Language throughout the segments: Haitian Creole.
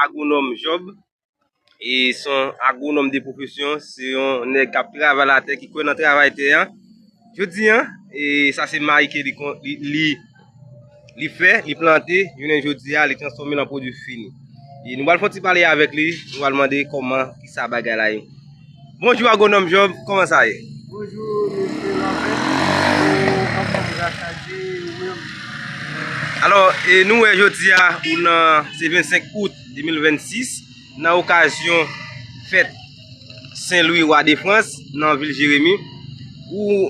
Agwonòm Job e son agwonòm de pwofesyon, se yon nèg kap travay latè, ki kwè nan travay tè a. Jodi an, e sa se mayi ke li fè, li plante, jounen jodi a, li transfòme lan pwodui fini. E nou pral fon ti pale avèk li, nou pral mande kòman, kisa bagay la ye. Bonjou Agwonòm Job, kòman sa ye? Bonjou Mesye Lambert, ou anfòm grasa Dye, e ou menm? Alò, e nou wè jodi a, ou nan, se 25 Out 2026, nan okazyon fèt Sen Lwi Wa de Frans, nan vil Jeremi, ou.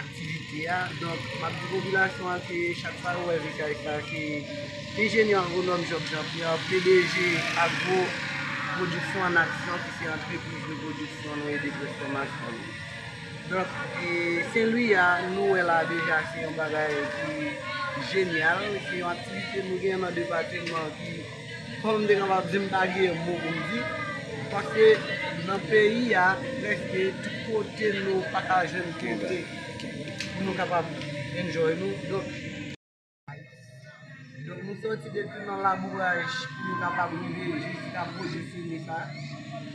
aktivite a. Donk, m ap di popilasyon an ke chak fwa yo wè VKF la ke enjenyè agwonòm Job Jean Pierre, pdg Agro Production en Action ki se antrepriz de pwodiksyon nou e de transfòmasyon nou. Donk, Sen Lwi a nou wè la deja se yon bagay ki jenyal, se yon aktivite nou gen nan depatman ki. Kòm m te kapab di m pa gen mo pou m di, paske nan peyi a prèske tout kote nou pa ka jwenn kote pou nou kapab enjoy nou, donk nou sòti depi nan labouraj pou nou kapab rive jiska pwojè fini sa.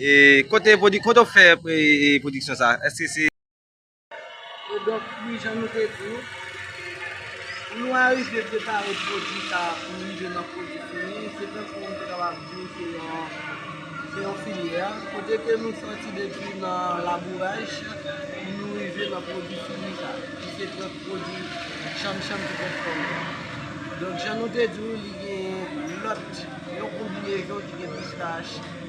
E kote pwodi, kote ou fè e pwodiksyon sa? Eske se. E donk wi jan nou te di ou, pou nou arive prepare pwodi sa pou l rive nan pwodi fini, se tankou m te kapab di ou se yon, se yon filyè, kote ke nou sòti depi nan labouraj pou nou rive nan pwodi fini sa, ki se pwòp pwodi chanm chanm ki fèt kòm sa. Donk jan nou te di ou li gen lòt, yon konbinezon ki gen pistach.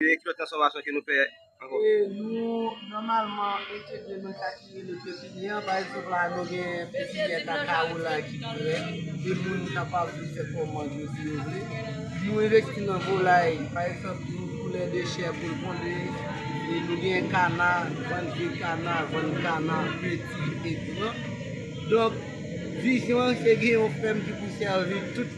Ki lòt transfòmasyon ke nou fè ankò? Nou nòmalman mete de nan sa ki rele pepinyè. Pa egzanp la, nou gen pepinyè kakawo la ki pi rèd, ke moun kapab vin fè kòmand yo si yo vle. Nou envesti nan volay. Pa egzanp, nou koule de chè pou l ponde. E nou gen kana, vann vye kana, vann kana peti e gran. Donk, vizyon an se gen yon fèm ki pou sèvi tout.